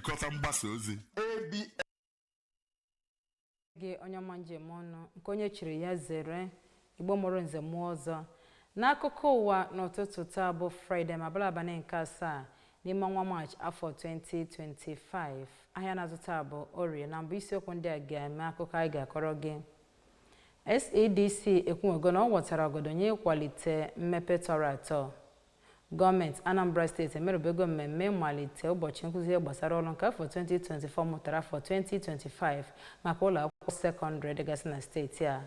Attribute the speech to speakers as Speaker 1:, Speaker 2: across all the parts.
Speaker 1: nchịkọta mgbasa ozi gị onye ọma njem ọnụ nke onye chiri ya zere igbo mụrụ nze mụọ ọzọ n'akụkọ ụwa n'ụtụtụ taa bụ fraịde ma bụrụ abalị nke asaa n'ime ọnwa maachị afọ 2025 ahịa na-azụ taa bụ orie na mbụ isiokwu ndị a ga-eme akụkọ anyị ga-akọrọ gị sedc ekwuwego na ọ wọtara ọgọdọ nye ịkwalite mmepe tọrọ atọ Gọọmenti Anambra steeti emerubego mmemme ịmalite ụbọchị nkụzi ihe gbasara ọlụ nke afọ 2024 mụtara afọ 2025 maka ụlọ akwụkwọ sekọndịrị dịgasị na steeti a.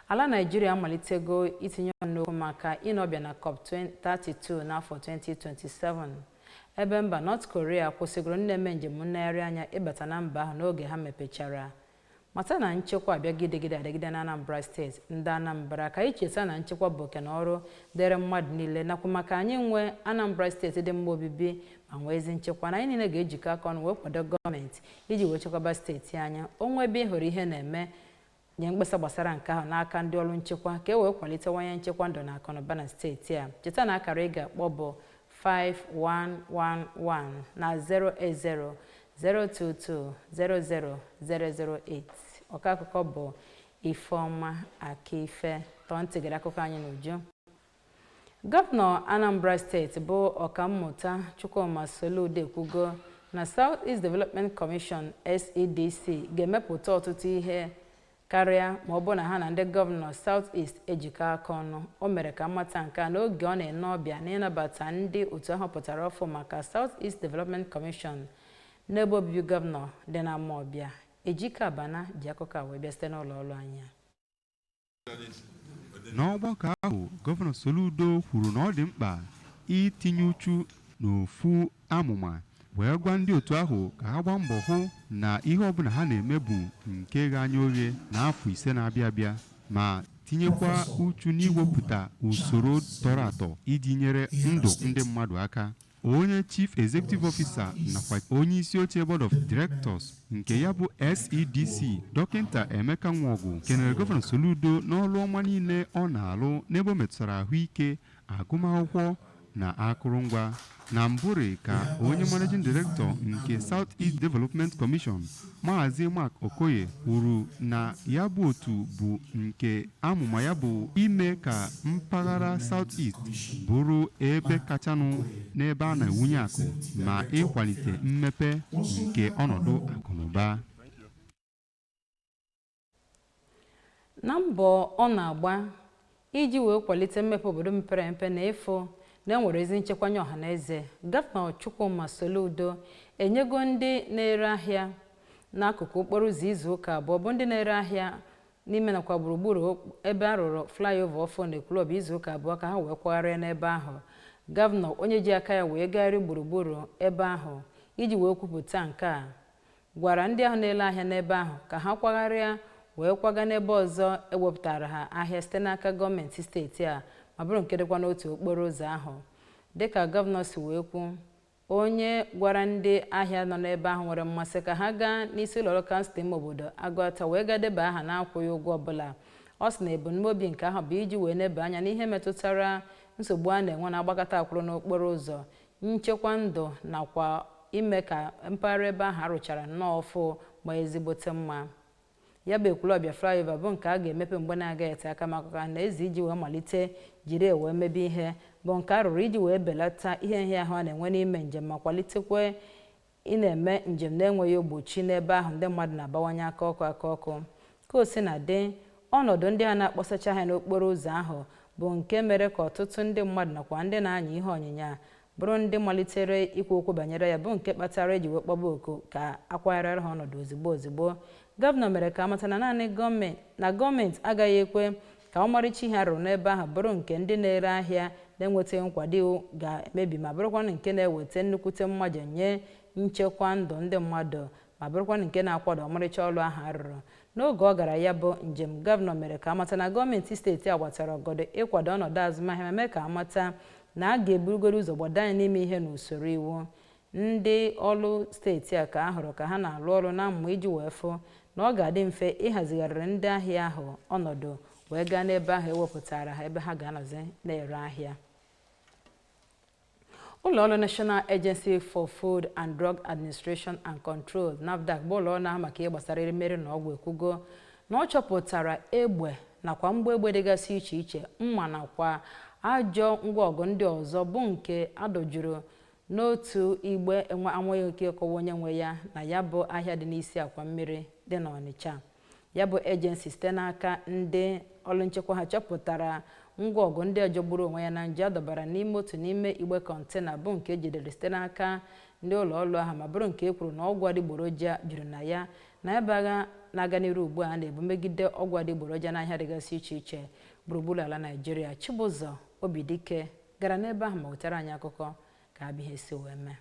Speaker 1: Ala Naịjirịa amalitego itinye ọnụ n'okwu maka ine ọbịa na COP32 n'afọ 2027 ebe mba North Korea kwụsịgoro ndị na-eme njem nlegharị anya ịbata na mba ahụ n'oge ha mepechara mata na nchekwa abịago ịdịgide adịgide na anambra steeti ndị anambra ka anyị cheta na nchekwa bụ oke na ọrụ dịrị mmadụ niile nakwa maka anyị inwe anambra steeti dị mma obibi ma nwee ezi nchekwa na anyị niile ga-ejikọ aka ọnụ wee kwado gọọmenti iji wee chekwaba steeti anyị o nwee ebe ị hụrụ ihe na-eme nye mkpesa gbasara nke ahụ n'aka ndị ọrụ nchekwa ka e wee kwalitewanye nchekwa ndụ na akụnụba na steeti a cheta na akara ị ga-akpọ bụ 5111 na 080 02200008 ọka akụkọ bụ Ifeọma Akaife tọọ ntị gere akụkọ anyị n'uju gọvanọ Anambra steeti bụ ọkammụta Chukwuma Soludo ekwugo na South East Development Commission SEDC ga-emepụta ọtụtụ ihe karịa ma ọ bụ na ha na ndị gọvanọ South East ejikọ aka ọnụ o mere ka a mata nke a n'oge ọ na-ene ọbịa n'ịnabata ndị otu ahụ pụtara ọfụ maka South East Development Commission n'ebe obibi gọvanọ dị na Amawbia Ejike Abana ji akụkọ a wee bịa site n'ụlọ ọrụ
Speaker 2: anyị n'ọgbakọ ahụ gọvanọ Soludo kwuru na ọ dị mkpa itinye uchu n'ofu amụma wee gwa ndị otu ahụ ka ha gbaa mbọ hụ na ihe ọbụla ha na-eme bụ nke ghe anya oghe n'afọ ise na-abịa abịa ma tinyekwa uchu n'iwepụta usoro tọrọ atọ iji nyere ndụ ndị mmadụ aka onye chief executive officer nakwa onye isi oche board of directors nke ya bụ SEDC dọkịta Emeka Nwọgụ kenere gọvanọ Soludo n'ọlụ ọma niile ọ na-alụ n'ebe o metụtara ahụike agụmakwụkwọ na akụrụngwa. Na mbụrị ka onye managing director nke South East Development Commission, Maazị Mark Okoye kwuru na ya bụ otu bụ nke amụma ya bụ ime ka mpaghara South East bụrụ ebe kachanụ n'ebe a na-ewunye akụ ma ịkwalite mmepe nke ọnọdụ akụnụba.
Speaker 1: na mbọ ọ na-agba iji wee kwalite mmepe obodo mepere emepe na ịfụ na enwere ezi nchekwa nye ọha na eze gọvanọ Chukwuma Soludo enyego ndị na-ere ahịa n'akụkụ okporo ụzọ izu ụka abụọ bụ ndị na-ere ahịa n'ime nakwa gburugburu ebe a rụrụ flyover ọfụ na Ekwulọbịa izu ụka abụọ ka ha wee kwagharịa n'ebe ahụ gọvanọ onye ji aka ya wee gagharị gburugburu ebe ahụ iji wee kwupụta nke a gwara ndị ahụ na-ele ahịa n'ebe ahụ ka ha kwagharịa wee kwaga n'ebe ọzọ ewepụtara ha ahịa site n'aka gọọmenti steeti a ma bụrụ nke dịkwa n'otu okporo ụzọ ahụ dịka gọvanọ si wee kwu onye gwara ndị ahịa nọ n'ebe ahụ nwere mmasị ka ha gaa n'isi ụlọọrụ kansụl ime obodo Agụata wee gaa deba aha na-akwụghị ụgwọ ọbụla ọ sị na ebumnobi nke ahụ bụ iji wee neba anya n'ihe metụtara nsogbu a na-enwe na agbakata akwụrụ n'okporo ụzọ nchekwa ndụ nakwa ime ka mpaghara ebe ahụ a rụchara nnọọ ọfụ maa ezigbote mma ya bụ Ekwulọbịa flyover bụ nke a ga-emepe mgbe na-agaghị ete aka maka ọha na eze iji wee malite jiri wee mebe ihe bụ nke a rụrụ iji wee belata ihe nhịahụ a na-enwe n'ime njem ma kwalitekwa ị na-eme njem na-enweghị ogbochi n'ebe ahụ ndị mmadụ na-abawanye aka ọkụ aka ọkụ ka o si na dị ọnọdụ ndị a na-akpọsacha ha n'okporo ụzọ ahụ bụ nke mere ka ọtụtụ ndị mmadụ nakwa ndị na-anya ihe ọnyịnya bụrụ ndị malitere ikwu okwu banyere ya bụ nke kpatara eji wee kpọba oku ka akwagharịra ha ọnọdụ ozigbo ozigbo gọvanọ mere ka amata na naanị gọọmenti na gọọmenti agaghị ekwe ka ọmarịcha ihe a rụrụ n'ebe ahụ bụrụ nke ndị na-ere ahịa na-enwetaghị nkwado iwu ga-emebi ma bụrụkwanụ nke na-eweta nnukwute mmaja nye nchekwa ndụ ndị mmadụ ma bụrụkwanụ nke na-akwada ọmarịcha ọrụ ahụ a rụrụ n'oge ọ gara ya bụ njem gọvanọ mere ka amata na gọọmenti steeti a gbatara ọgọdọ ịkwado ọnọdụ azụmahịa ma mee ka amata na a ga-eburugoro ụzọ gbado anya n'ime ihe n'usoro iwu ndị ọrụ steeti a ka a hụrụ ka ha na-arụ ọrụ na mma iji wee fụ na ọ ga-adị mfe ịhazigharịrị ndị ahịa ahụ ọnọdụ wee gaa n'ebe ahụ ewepụtara ha ebe ha ga-anọzi na-ere ahịa ụlọọrụ National Agency for Food and Drug Administration and Control NAFDAC bụ ụlọọrụ na-ahụ maka ihe gbasara erimeri na ọgwụ ekwugo na ọ chọpụtara egbe nakwa mgbọ egbe dịgasị iche iche mma nakwa ajọ ngwa ọgụ ndị ọzọ bụ nke a dọjuru n'otu igbe enweghị ike ịkọwa onye nwe ya na ya bụ ahịa dị n'isi akwa mmiri dị n'Ọnịcha ya bụ ejensi site n'aka ndị ọrụ nchekwa ha chọpụtara ngwa ọgụ ndị a jọgburu onwe ya na njọ a dọbara n'ime otu n'ime igbe kọntena bụ nke ejidere site n'aka ndị ụlọ ọrụ ahụ ma bụrụ nke e kwuru na ọgwụ adịgboroja juru na ya na ebe agha na-aga n'iru ugbu a na-ebu megide ọgwụ adịgboroja n'ahịa dịgasị iche iche gburugburu ala Naịjirịa Chibụzọ Obidike gara n'ebe ahụ ma wetara anyị akụkọ ka ya bụ ihe si wee mee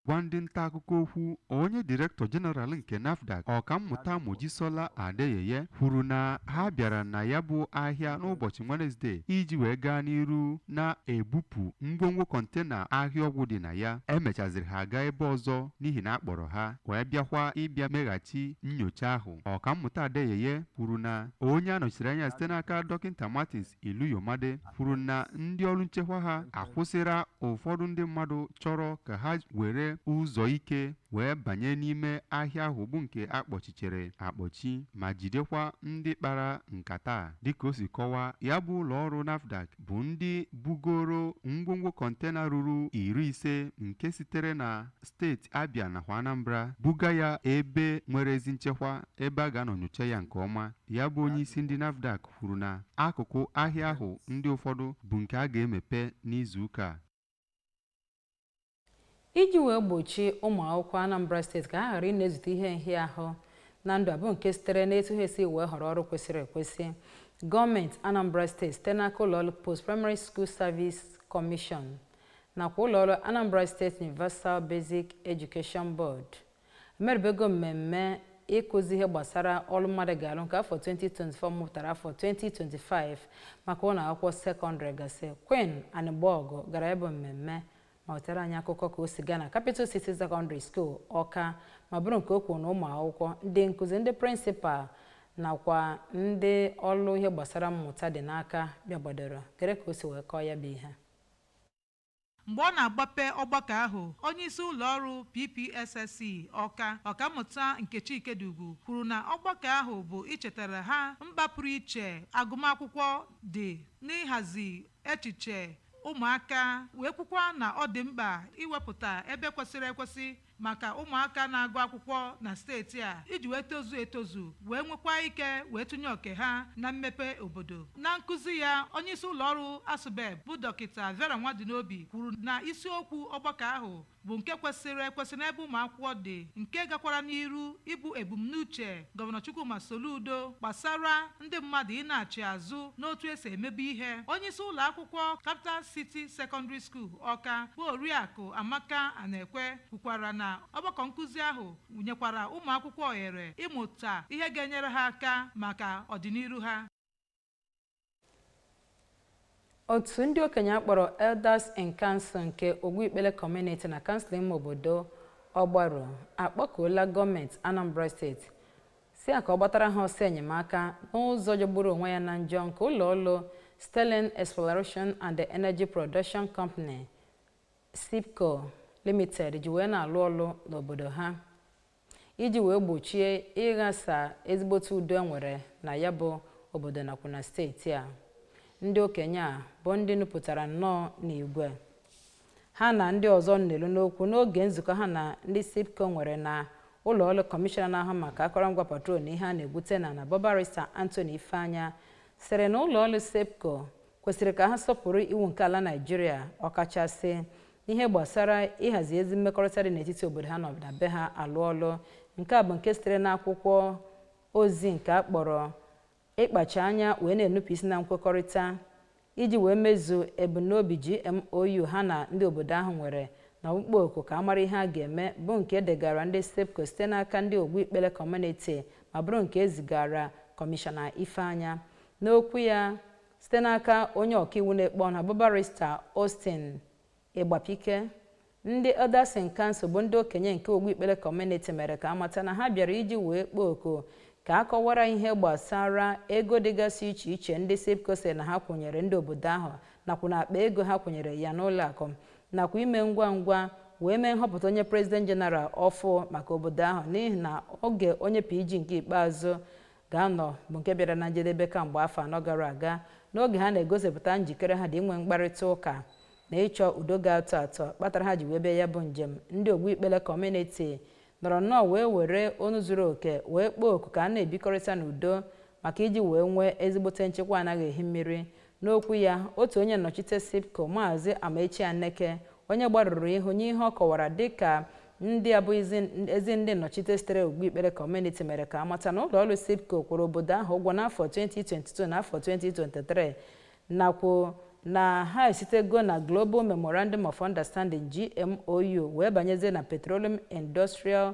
Speaker 2: gwa ndị nta akụkọ okwu onye direktọ jeneral nke nafdac ọkammụta mojisola adeyeye kwuru na ha bịara na ya bụ ahịa n'ụbọchị wenesde iji wee gaa n'iru na-ebupụ ngwongwo kọntena ahịa ọgwụ dị na ya emechaziri ha gaa ebe ọzọ n'ihi na a kpọrọ ha wee bịakwa ịbịa meghachi nyocha ahụ ọkammụta adeyeye kwuru na onye a nọchiri anya site n'aka dọkịta martins Iluyomade kwuru na ndị ọrụ nchekwa ha akwụsịra ụfọdụ ndị mmadụ chọrọ ka ha were ụzọ ike wee banye n'ime ahịa ahụ bụ nke a kpọchichere akpọchi ma jidekwa ndị kpara nkata a. Dịka o si kọwaa, ya bụ ụlọọrụ NAFDAC bụ ndị bugoro ngwongwo kọntena ruru iri ise nke sitere na steeti Abia nakwa Anambra buga ya ebe nwere ezi nchekwa ebe a ga-anọ nyocha ya nke ọma. Ya bụ onye isi ndị NAFDAC kwuru na akụkụ ahịa ahụ ndị ụfọdụ bụ nke a ga-emepe n'izu ụka a.
Speaker 1: Iji wee gbochie ụmụ akwụkwọ Anambra steeti ka ha ghara ị na-ezute ihe nhịahụ na ndụ ha bụ nke sitere n'etu ha esi wee họrọ ọrụ kwesịrị ekwesị gọọmenti Anambra steeti site n'aka ụlọọrụ Post Primary School Service Commission nakwa ụlọọrụ Anambra State Universal Basic Education Board emerubego mmemme ịkụzi ihe gbasara ọrụ mmadụ ga-arụ nke afọ 2024 mụpụtara afọ 2025 maka ụlọ akwụkwọ sekọndịrị gasị Queen Anịgbọgụ gara ebe mmemme ma wetara anyị akụkọ ka o si gaa na Capital City Secondary School Ọka ma bụrụ nke o kwuru na ụmụ akwụkwọ ndị nkụzi ndị prịnsịpal nakwa ndị ọrụ ihe gbasara mmụta dị n'Ọka bịagbadoro gere ka o si wee kọọ ya bụ ihe
Speaker 3: Mgbe ọ na-agbape ọgbakọ ahụ, onyeisi ụlọọrụ PPSSC Ọka, Ọkammụta Nkechi Ikediugwu kwuru na ọgbakọ ahụ bụ ichetara ha mkpa pụrụ iche agụmakwụkwọ dị n'ịhazi echiche ụmụaka wee kwukwa na ọ dị mkpa iwepụta ebe kwesịrị ekwesị maka ụmụaka na-agụ akwụkwọ na steeti a iji wee tozuo etozu wee nwekwaa ike wee tụnye oke ha na mmepe obodo. Na nkụzi ya, onyeisi ụlọọrụ ASUBEB bụ Dọkịta Vera Nwadinobi kwuru na isiokwu ọgbakọ ahụ bụ nke kwesịrị ekwesị n'ebe ụmụakwụkwọ dị nke gakwara n'iru ịbụ ebumnuche Gọvanọ Chukwuma Soludo gbasara ndị mmadụ ịnaghachi azụ n'otu e si emebu ihe. Onyeisi ụlọakwụkwọ Capital City Secondary School, Ọka bụ Oriakụ Amaka Anekwe kwukwara na ọgbakọ nkụzi ahụ nyekwara ụmụakwụkwọ ohere ịmụta ihe ga-enyere ha aka maka ọdịniru ha.
Speaker 1: otu ndị okenye a kpọrọ elders in council nke ogwu ikpele kọmuniti na kansụl ime obodo ọgbaru akpọkuola gọọmenti anambra steeti sị ya ka ọ gbatara ha ọsọ enyemaka n'ụzọ jọgburu onwe ya na njọ nke ụlọ ọrụ sterling exploration and energy production company seepco limited ji wee na-alụ ọlụ n'obodo ha iji wee gbochie ịghasa ezigbote udo e nwere na ya bụ obodo nakwa na steeti a ndị okenye a bụ ndị nupụtara nnọọ n'igwe ha na ndị ọzọ nelu n'okwu n'oge nzukọ ha na ndị seepco nwere na ụlọ ọrụ kọmishọna na-ahụ maka akọrọngwa petrol na ihe a na-egwute n'ana bụ barista Anthony Ifeanya sịrị na ụlọ ọrụ seepco kwesịrị ka ha sọpụrụ iwu nke ala Naịjirịa ọkachasị n'ihe gbasara ịhazi ezi mmekọrịta dị n'etiti obodo ha nọ be ha alụ ọlụ nke a bụ nke sitere n'akwụkwọ ozi nke a kpọrọ ịkpacha anya wee na-enupụ isi na nkwekọrịta iji wee mezuo ebumnobi GMOU ha na ndị obodo ahụ nwere na ọkpụkpọ oku ka a mara ihe a ga-eme bụ nke e degara ndị SEEPCO site n'aka ndị ogwu ikpele kọmuniti ma bụrụ nke e zigara kọmishọna Ifeanya n'okwu ya site n'aka onye ọkaiwu na-ekpe ọnụ bụ barista Austin Ịgbapike ndị Elders in Council bụ ndị okenye nke ogwu ikpele kọmuniti mere ka a mata na ha bịara iji wee kpọọ oku ka a kọwara ihe gbasara ego dịgasị iche iche ndị SEEPCO sị na ha kwụnyere ndị obodo ahụ nakwa na akpa ego ha kwụnyere ya n'ụlọ akụ nakwa ime ngwa ngwa wee mee nhọpụta onye prezident jeneral ọfụ maka obodo ahụ n'ihi na oge onye PG nke ikpeazụ ga-anọ bụ nke bịara na njedebe kamgbe afọ anọ gara aga n'oge ha na-egosipụta njikere ha dị inwe mkparịta ụka na ịchọ udo ga-atọ atọ kpatara ha ji wee bịa ya bụ njem ndị ogwu ikpele kọmuniti nọrọ nnọọ wee were onu zuru oke wee kpọọ oku ka a na-ebikọrịta n'udo maka iji wee nwee ezigbote nchekwa anaghị ehi mmiri N'okwu ya, otu onye nnọchite SEEPCO, Maazị Amaechi Aneke, onye gbarụrụ ihu nye ihe ọ kọwara dịka ndị abụghị ezi ndị nnọchite sitere Ogwu Ikpele Kọmuniti mere ka a mata na ụlọọrụ SEEPCO kwụrụ obodo ahụ ụgwọ n'afọ 2022 na afọ 2023 nakwa na ha esitego na Global Memorandum of Understanding, GMOU, wee banyezie na Petroleum Industrial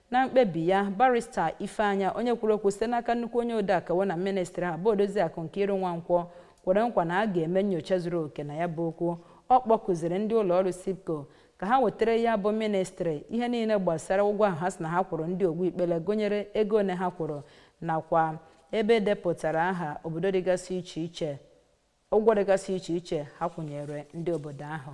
Speaker 1: na mkpebi ya barista ifeanya onye kwuru okwu site n'aka nnukwu onye odeakwụkwọ na ministri ha bụ odoziakụ Nkiru Nwankwo kwere nkwa na a ga-eme nyocha zuru oke na ya bụ okwu ọ kpọkuziri ndị ụlọ ọrụ SEEPCO ka ha wetara ya bụ ministri ihe niile gbasara ụgwọ ahụ ha sị na ha kwụrụ ndị ogwu ikpele gụnyere ego one ha kwụrụ nakwa ebe e depụtara aha obodo dịgasị iche iche ụgwọ dịgasị iche iche ha kwụnyere ndị obodo ahụ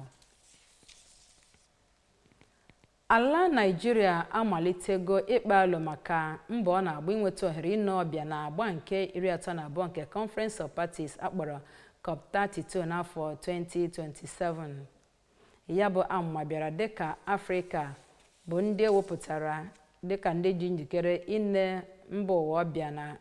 Speaker 1: Ala Naịjirịa amalitego ịkpa alo maka mbọ ọ na-agba inweta ohere ine ọbịa na agba nke iri atọ na abụọ nke Conference of Parties akpọrọ COP 32 n'afọ 2027. Ya bụ amụma bịara dịka Afrịka bụ ndị ewepụtara dịka ndị ji njikere ine mba ụwa ọbịa na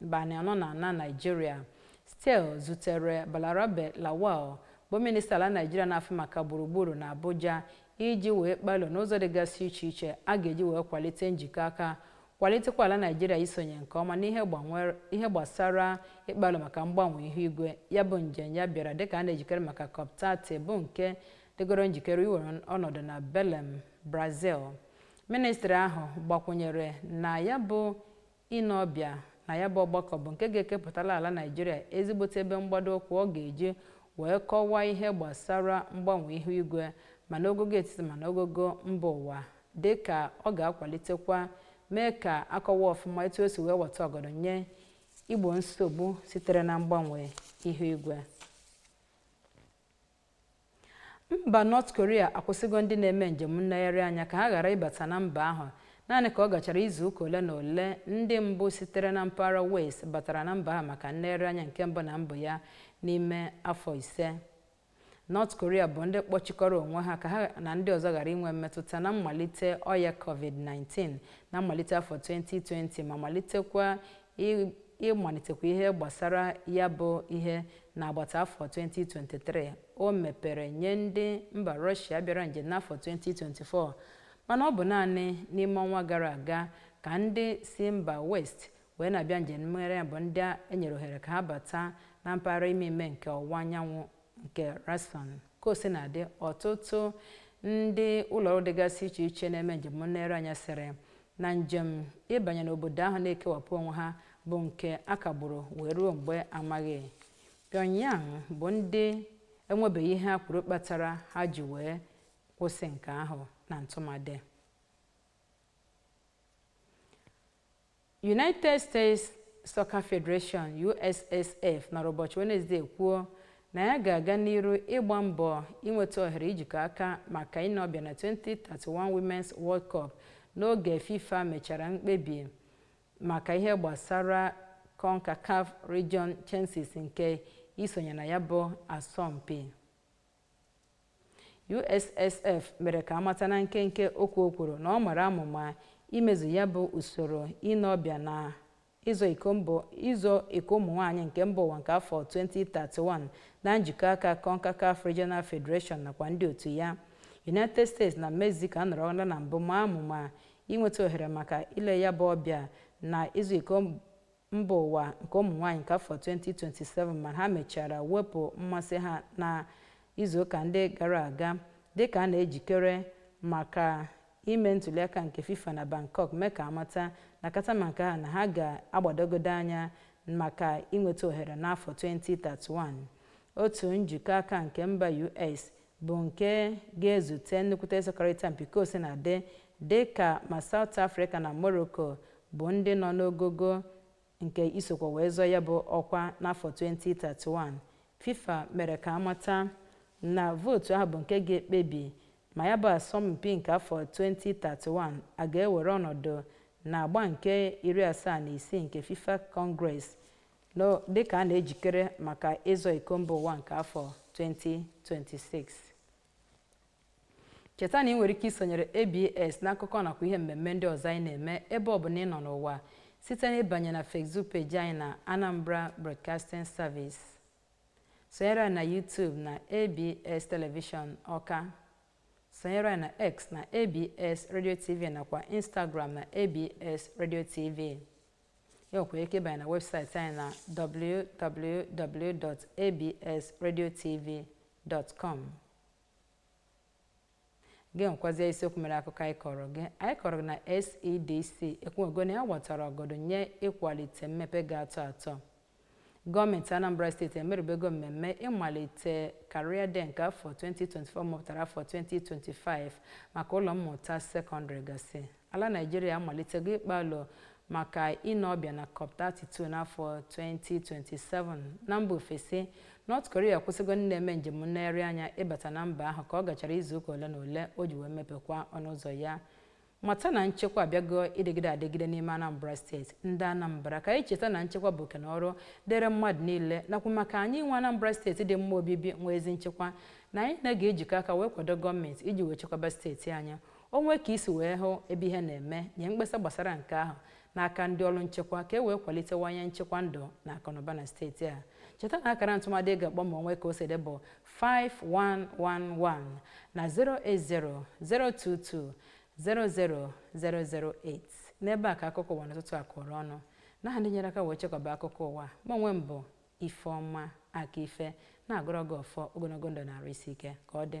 Speaker 1: N'abalị anọ na na Naịjirịa, Stiell zutere Balarabe Lawal bụ minista ala Naịjirịa na-afụ maka gburugburu na Abuja iji wee kpaa alo n'ụzọ dịgasị iche iche a ga-eji wee kwalite njikọ aka kwalitekwa ala Naịjirịa isonye nke ọma n'ihe gbasara ịkpa alo maka mgbanwe ihu igwe. Ya bụ njem ya bịara dịka a na-ejikere maka COP30 bụ nke dịgoro njikere iwere ọnọdụ na Belem, Brazil. Ministri ahụ gbakwụnyere na ya bụ ine ọbịa na ya bụ ọgbakọ bụ nke ga-ekepụtala ala Naịjirịa ezigbote ebe mgbado ụkwụ ọ ga-eji wee kọwaa ihe gbasara mgbanwe ihu igwe ma n'ogogo etiti ma n'ogogo mba ụwa dị ka ọ ga-akwalitekwa mee ka a kọwaa ọfụma etu o si wee weta ọgọdọ nye igbo nsogbu sitere na mgbanwe ihu igwe mba North Korea akwụsịgo ndị na-eme njem nlegharị anya ka ha ghara ịbata na mba ahụ naanị ka ọ gachara izu ụka ole na ole ndị mbụ sitere na mpaghara West batara na mba ahụ maka nlegharị anya nke mbụ na mbụ ya n'ime afọ ise North Korea bụ ndị kpọchikọrọ onwe ha ka ha na ndị ọzọ ghara inwe mmetụta na mmalite ọya covid-19 na mmalite afọ 2020 ma malitekwa ịmalitekwa ihe gbasara ya bụ ihe n'agbata afọ 2023 o mepere nye ndị mba Rọshia bịara njem n'afọ 2024 mana ọ bụ naanị n'ime ọnwa gara aga ka ndị si mba West wee na-abịa njem nlegharị bụ ndị enyere ohere ka ha bata na mpaghara ime ime nke ọwụwa anyanwụ nke Rason ka o sina dị ọtụtụ ndị ụlọọrụ dịgasị iche iche na-eme njem nlegharị anya sịrị na njem ịbanye n'obodo ahụ na-ekewapụ onwe ha bụ nke a kagburu wee ruo mgbe amaghị Pyongyang bụ ndị enwebeghị ihe ha kwuru kpatara ha ji wee kwụsị nke ahụ na ntụmadị United States Soccer Federation, USSF, nọrọ ụbọchị Wenezdee kwuo na ya ga-aga n'iru ịgba mbọ inweta ohere ijikọ aka maka ine ọbịa na 2031 Women's World Cup n'oge FIFA mechara mkpebi maka ihe gbasara CONCACAF Region Chances nke isonye na ya bụ asọmpi. USSF mere ka a mata na nkenke okwu o kwuru na ọ mara amụma imezu ya bụ usoro ịnọ ọbịa na ịzọ ịzọ iko ụmụ nwaanyị nke mba ụwa nke afọ 2031 na njikọ aka CONCACAF Regional Federation nakwa ndị otu ya United States na Mexico anọrọla na mbụ ma amụma inweta ohere maka ile ya bụ ọbịa na ịzọ iko mba ụwa nke ụmụ nwaanyị nke afọ 2027 ma ha mechara wepụ mmasị ha na izuụka ndị gara aga dịka a na-ejikere maka ime ntuliaka nke FIFA na Bangkok mee ka a mata na kata ma nke ha na ha ga-agbadogodo anya maka inweta ohere n'afọ 2031 otu njikọ aka nke mba US bụ nke ga-ezute nnukwute ịsọkọrịta mpi ka o sina dị dị ka ma South Africa na Morocco bụ ndị nọ n'ogogo nke isokwa wee zọọ ya bụ ọkwa n'afọ 2031 FIFA mere ka a mata na vootu ahụ bụ nke ga-ekpebi ma ya bụ asọmpi nke afọ 2031 a ga-ewere ọnọdụ na agba nke iri asaa na isii nke FIFA Congress dịka a na-ejikere maka ịzọ iko mba ụwa nke afọ 2026. Cheta na ị nwere ike isonyere ABS n'akụkọ nakwa ihe mmemme ndị ọzọ anyị na-eme ebe ọ bụla ị nọ n'ụwa site na ịbanye na Facebook peji anyị na Anambra Broadcasting Service. Sonyere anyị na YouTube na ABS Television Ọka. Sonyere anyị na X na ABS Radio TV nakwa Instagram na ABS Radio TV. e nwekwara ike ịbanye na webụsaịtị anyị na www.absradiotv.com gị nwekwazie isiokwu mere akụkọ anyị kọrọ gị anyị kọrọ gị na SEDC ekwuogo na ya gbatara ọgọdọ nye ịkwalite mmepe ga-atọ atọ Gọọmenti Anambra steeti emerubego mmemme ịmalite Career Day nke afọ 2024 mụpụtara afọ 2025 maka ụlọ mmụta sekọndịrị gasị. Ala Naịjirịa amalitego ịkpa alo maka ịnọ ọbịa na COP32 n'afọ 2027. Na mba ofesi, North Korea akwụsịgo ndị na-eme njem nlegharị anya ịbata na mba ahụ ka ọ gachara izuụka ole na ole o ji wee mepekwa ọnụ ụzọ ya. mata na nchekwa abịago ịdịgide adịgide n'ime Anambra steeti ndị Anambra ka anyị cheta na nchekwa bụ oke na ọrụ dịrị mmadụ niile nakwa maka anyị inwe Anambra steeti dị mma obibi nwee ezi nchekwa na anyị na ga-ejikọ aka wee kwado gọọmenti iji wee chekwaba steeti anyị o nwee ka i si wee hụ ebe ihe na-eme nye mkpesa gbasara nke ahụ n'aka ndị ọrụ nchekwa ka e wee kwalitewanye nchekwa ndụ na akụnụba na steeti a cheta na akara ntụmadị ị ga-akpọ ma o nwee ka o si dị bụ 5111 na 080 022 00008 n'ebe a ka akụkọ ụwa n'ụtụtụ a kụrụ ọnụ n'aha ndị nyere aka wee chịkọba akụkọ ụwa ma onwe m bụ ifeọma aka ife na-agọrọ gị ọfọ ogologo ndụ na arụ isi ike ka ọ dị